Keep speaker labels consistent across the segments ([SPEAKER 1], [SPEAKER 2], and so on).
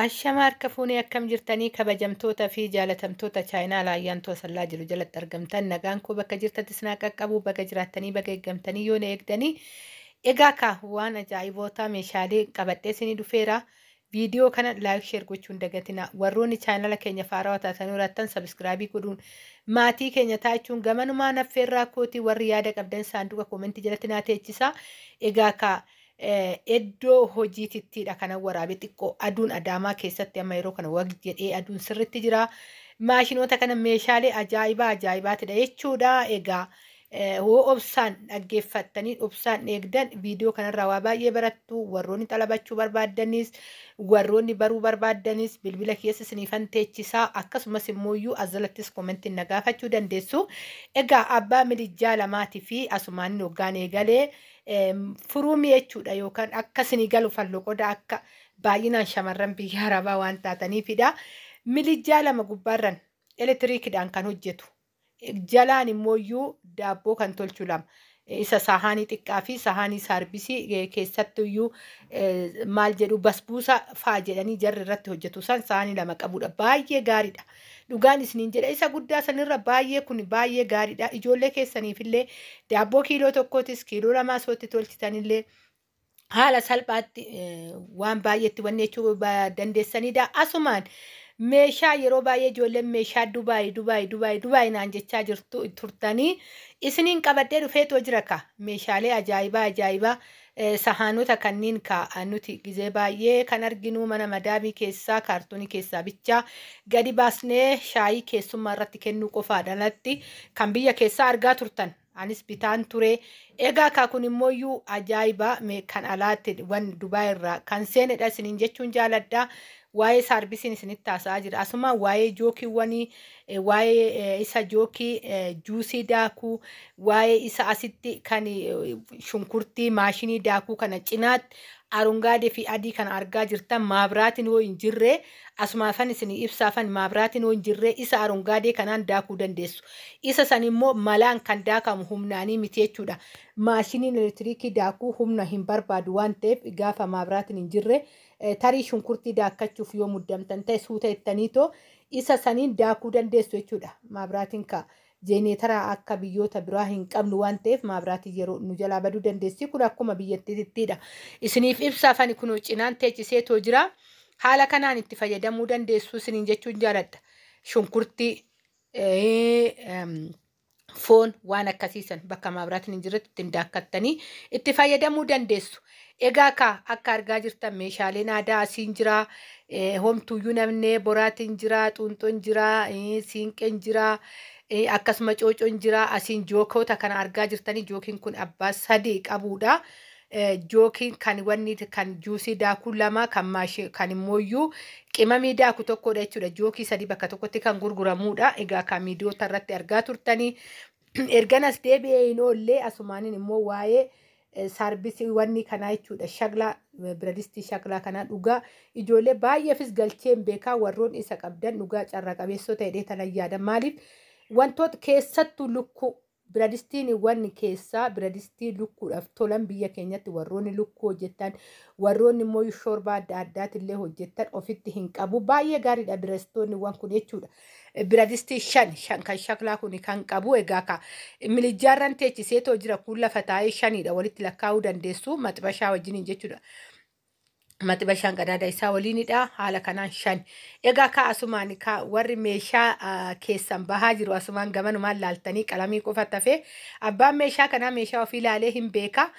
[SPEAKER 1] Ashama harka fuunee akkam jirtanii kabajamtoota fi jaalatamtoota chaayinaa laayyaan toosallaa jiru jalatti argamtan nagaan koo bakka jirtatti sinaa qaqqabu baga jiraattanii baga eeggamtanii yoo na eegdanii egaa kaa waan ajaa'ibootaa meeshaalee qabadhee sinii dhufeera viidiyoo kana laayik sheer gochuun dagatina warroonni chaayinaala keenya faarawaa taatanii jiraattan sabiskiraabii godhuun maatii keenya taachuun gamanumaa naffeerraa kooti warri yaada qabdan saanduqa koomentii jalatti naa teechisaa egaa kaa Eddoo hojiitittiidha kanan waraabe xiqqoo aduun adaamaa keessatti amma yeroo kana wag jedhee aduun sirritti jira. Maashinoota kana meeshaalee ajaa'ibaa ajaa'ibaatidha jechuudha. Egaa hoo obsaan dhaggeeffattanii obsaan eegdan viidiyoo kanarraa waa baay'ee barattu warroonni xalabachuu barbaaddanis warroonni baruu barbaaddanis bilbila keessa siniifan teechisaa akkasumas immoo iyyuu as jalattis koomentiin na gaafachuu dandeessu. Egaa abbaa milijjaa lamaatii fi asumaan hoggaan eegalee furuu mi'eechuudha yookaan akka isinii galu fallo qoda akka baay'inaan shamarran biyya arabaa waan taataniifidha. Milijjaa lama gubbaarran elektiriikidhaan kan hojjetu jalaan immoo iyyuu daabboo kan tolchu lama isa sahaanii xiqqaa fi sahaanii saarbisii eh, keessattu iyyuu eh, maal jedhu basbuusa faa jedhanii jarri irratti hojjetu san sahaanii lama qabudha baay'ee gaariidha. Dhugaan isiniin jedha isa guddaa sanirra baay'ee kun baay'ee gaariidha. Ijoollee keessaniifillee daabboo kiiloo tokkootis kiiloo lamaa sootti tolchitanillee haala salphaatti eh, waan baay'eetti wanni jechuu ba- dandeessanidha. Asumaan meeshaa yeroo baay'ee ijoolleen meeshaa Dubaay Dubaay Dubaay Dubaay naan jechaa jirtu turtanii isiniin qabadhee dhufeetoo jira ka meeshaalee ajaa'ibaa ajaa'ibaa Sahaanota kanniin kaa nuti gizee baay'ee kan arginuu mana madaamii keessaa kaartoonii keessaa bichaa gadi baasnee shaayii keessummaa irratti kennuu qofaadha alatti kan biyya keessaa argaa turtan anis bitaan turee egaa kaa kun immoo iyyuu ajaa'iba mee kan alaatti wan dubaa irraa kan seenedha isiniin jechuun jaaladha waa'ee saarbisiin isinitti haasa'aa jira asuma waa'ee jookiiwwanii eh, waa'ee eh, isa jookii eh, juusii daakuu waa'ee isa asitti kan eh, shunkurtii maashinii daakuu kana cinaatti arongaadee fi adii kana argaa jirtan maabiraatiin yoo hin jirre asumaafan isin ibsaafan maabiraatiin yoo hin jirre isa arongaadee kanaan daakuu dandeessu isa san immoo malaan kan daakamu humnaanii miti jechuudha maashiniin elektiriikii daakuu humna hin barbaadu waan ta'eef gaafa maabiraatiin hin jirre eh, tarii shunkurtii daakkachuuf yoo muddamtan ta'e suuta ittaniitoo Isa saniin daakuu dandeessu jechuudha. Maabraatiin kaa jeeneetaraa akka biyyoota biraa hin qabnu waan ta'eef maabraatiin yeroo nu jalaa baduu dandeessi. Kun akkuma biyyattiittiidha. Isiniif ibsaaf ani kunoo cinaan teechisee too jira. Haala kanaan itti fayyadamuu dandeessu isiniin jechuun jaaladha. Shunkurtii, foon waan akkasii san bakka maabiraatiin hin jirretti ittiin daakkattanii itti fayyadamuu dandeessu. Egaa kaa akka argaa jirtan meeshaaleen aadaa asiin jira. Eh, Homtuuyyuu namnee boraatiin jira, xuunxoon jira, eh, siinqeen jira, eh, akkasuma coocoon jira. Asiin jookoota kana argaa jirtanii jookiin kun abbaa sadii qabuudha. Jookiin kan wanni kan juusii daakuu lama kan maashi kan immooyyuu qimamii daaku tokkodha jechuudha. Jookii sadii bakka tokkotti kan gurguramuudha. Egaa kan miidiyoota irratti argaa turtanii ergan as deebi'ee hin oollee asumaanin immoo waa'ee eh, saarbisii wanni kanaa jechuudha. Shaglaa eh, biradistii shaglaa kanaa dhugaa ijoollee baay'eefis galchee hin beekaa warroon isa qabdan dhugaa carraa qabeessoo ta'edhee tanan yaada. Maaliif wantoota keessattuu lukkuu Biradistiiniwwan keessaa biradistii lukkuudhaaf tolan biyya keenyatti warroonni lukkuu hojjettan, warroonni immoo shoorbaa adda addaatillee hojjettan ofitti hin qabu. Baay'ee gaariidha birastoonniwwan kun jechuudha. Biradistii shan shan kan shaklaa kun kan qabu egaa ka milijjaarran teechiseetoo jira kun lafa taa'ee shaniidha walitti lakkaa'uu dandeessu maxbashaa wajjiniin jechuudha. mati bashaan qadaada isaa waliinidha haala kanaan shan egaa kaa asumaan kaa warri meeshaa ah, keessan bahaa jiru asumaan gamanumaan laaltanii qalamii qofa tafee abbaan meeshaa kanaa meeshaa ofii laalee hin beekaa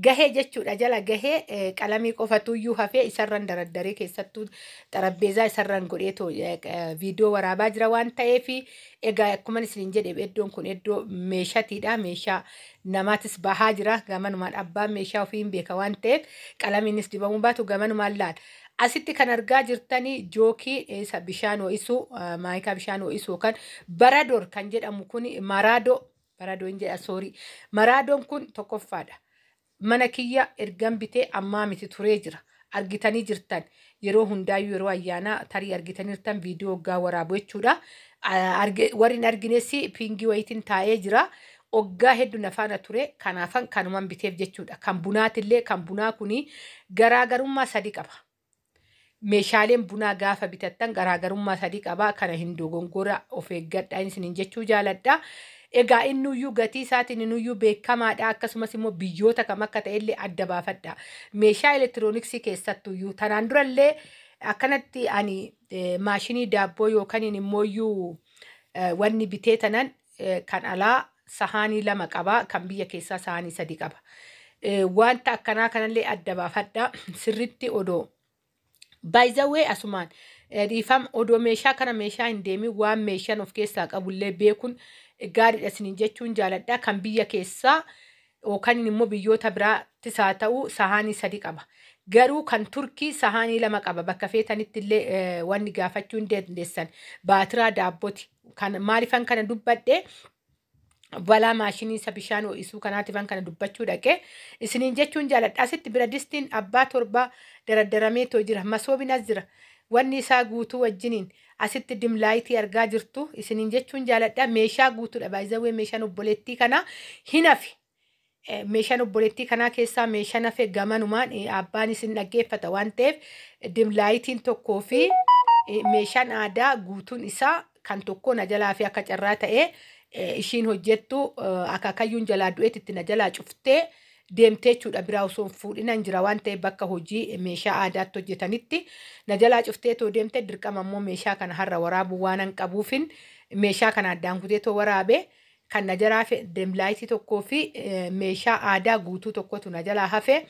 [SPEAKER 1] gahee jechuudha jala gahee eh, qalamii qofatuyyuu hafee isarran daraddaree keessattuu xarabbeezaa isarran godheetu eh, eh, viidiyoo waraabaa jira waan ta'eefi egaa akkuman isiniin jedhe iddoon kun iddoo meeshatiidha meeshaa namaatis bahaa jira. Gamanumaan abbaan meeshaa ofii hin beeka waan ta'eef qalamiinis dibamuu baatu gamanumaan laal. Asitti kan argaa jirtanii jookii isa bishaan ho'isuu ah, maayikaa bishaan ho'isuu yookaan barador kan jedhamu kun maraadoo baradoo hin jedha soorii maraadoon kun tokkoffaadha. Mana kiyya ergan bitee ammaa miti turee jira. argitanii jirtan yeroo hundaayyuu yeroo ayyaanaa tarii argitanirtan viidiyoo oggaa waraabu jechuudha. Ah, arge- Warri hin argines piingii wayiitiin taa'ee jira. Oggaa heddu na faana ture kanaafan kanuman biteef jechuudha. Kan bunaatillee kan bunaa kuni garaagarummaa sadi qaba. Meeshaaleen bunaa gaafa bitattan garaagarummaa sadi qaba. Kana hin dogongora of eeggadha isiniin jechuu jaaladha. Egaa innuyyuu gatii isaatiin inuyyuu beekkamaadha, akkasumas immoo biyyoota kam akka ta'e illee adda baafadhaa. Meeshaa elektirooniksii keessattuyyuu. Tanaan dura illee akkanatti ani maashinii daabboo yookaniin immooyyuu wanni bitee tanan kan alaa sahaanii lama qaba, kan biyya keessaa sahaanii sadi qaba. Wanta akkanaa kanallee adda baafadhaa. Sirritti odoo. Baay'izawwee asumaan dhiifam odoo meeshaa kana meeshaa hin deemin waan meeshaan of keessaa qabullee beekun gaariidha isiniin jechuun jaaladha kan biyya keessaa yookaan immoo biyyoota biraattis haa ta'u sahaanii sadi qaba. Garuu kan turkii sahaanii lama qaba bakka feetanitti illee wanni gaafachuu hin dandeessan baatiraa daabboti kan maalifan kana dubbadhe balaa maashinii isa bishaan ho'isuu kanaatifan kana dubbachuu dhaqee isiniin jechuun jaaladha. Asitti biradistiin abbaa torbaa daraddaramee too jira. Masoobiin as jira. Wanni isaa guutuu wajjiniin asitti dimlaayitii argaa jirtu isiniin jechuun jaaladha. Meeshaa guutuudha. Baay'izawwee meeshaan obboleettii kanaa hin hafi. Eh, meeshaan obboleettii kanaa keessaa meeshaan hafe gamanumaan eh, abbaan isin dhaggeeffata waan ta'eef eh, dimlaayitiin tokkoo fi eh, meeshaan aadaa guutuun isaa kan tokkoo na jalaa fi akka carraa ta'ee eh, ishiin hojjettu eh, akaakayyuun jalaa du'eetti itti na jalaa cuftee deemtee jechuudha biraa osoo hin fuudhinan jira waan ta'eef bakka hojii eh, meeshaa aadaatti hojjetanitti na jalaa cuftee too deemte dirqama immoo meeshaa kana har'a waraabuu waan hin qabuufin meeshaa kana addaan kutee too waraabe Kan na jalaa hafe demlaayitii tokkoo fi meeshaa aadaa guutuu tokkotu na jalaa hafe.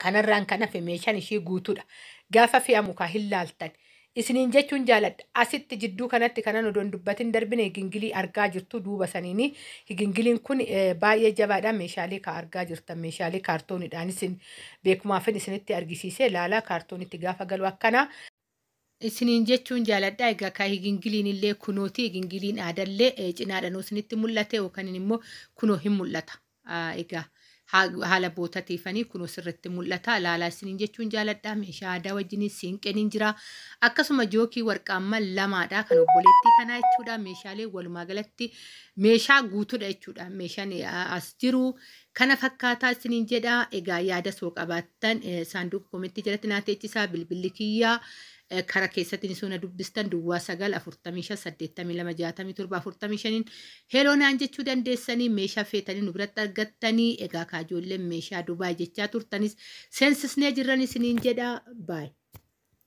[SPEAKER 1] Kanarraan kan hafe meeshaan ishii guutuudha. Gaafa fe'amu kaa hin laaltan. Isiniin jechuun jaaladha. Asitti jidduu kanatti kanan odoon dubbatin darbine higingilii argaa jirtu duuba saniini. Higingiliin kun baay'ee jabaadha. Meeshaalee kaa argaa jirtan meeshaalee kaartooniidhaan isin beekumaafin isinitti argisiisee laalaa kaartoonitti gaafa galu akkana. isiniin jechuun jaaladha. Egaa kaa higingiliin illee kunooti higingiliin aadallee eh, cinaadhanuu isinitti mul'ate yookaan immoo kunoo hin mul'ata. Ah, Egaa haa- haala bootatiifanii kunoo sirriitti mul'ata. Ilaalaa isiniin jechuun jaaladha. Meeshaa aadaa wajjinis siinqeen hin jira. Akkasuma jookii warqaamman lamaadha kan obboleettii kanaa jechuudha. Meeshaalee walumaa galatti meeshaa guutuudha jechuudha. Meeshaan eh, as jiru Kana fakkaataa isiniin jedha. Egaa yaada soo qabaattan saanduuqa komentii jalatti naa teechisaa bilbilli kiyya kara keessatti ni soona dubbistan duwwaa 9 45 82 67 45n heloo naan jechuu dandeessanii meeshaa feetanii nu biratti argattanii egaa kaajoolleen meeshaa Dubaay jechaa turtanis seensisnee jirran isiniin jedha baay.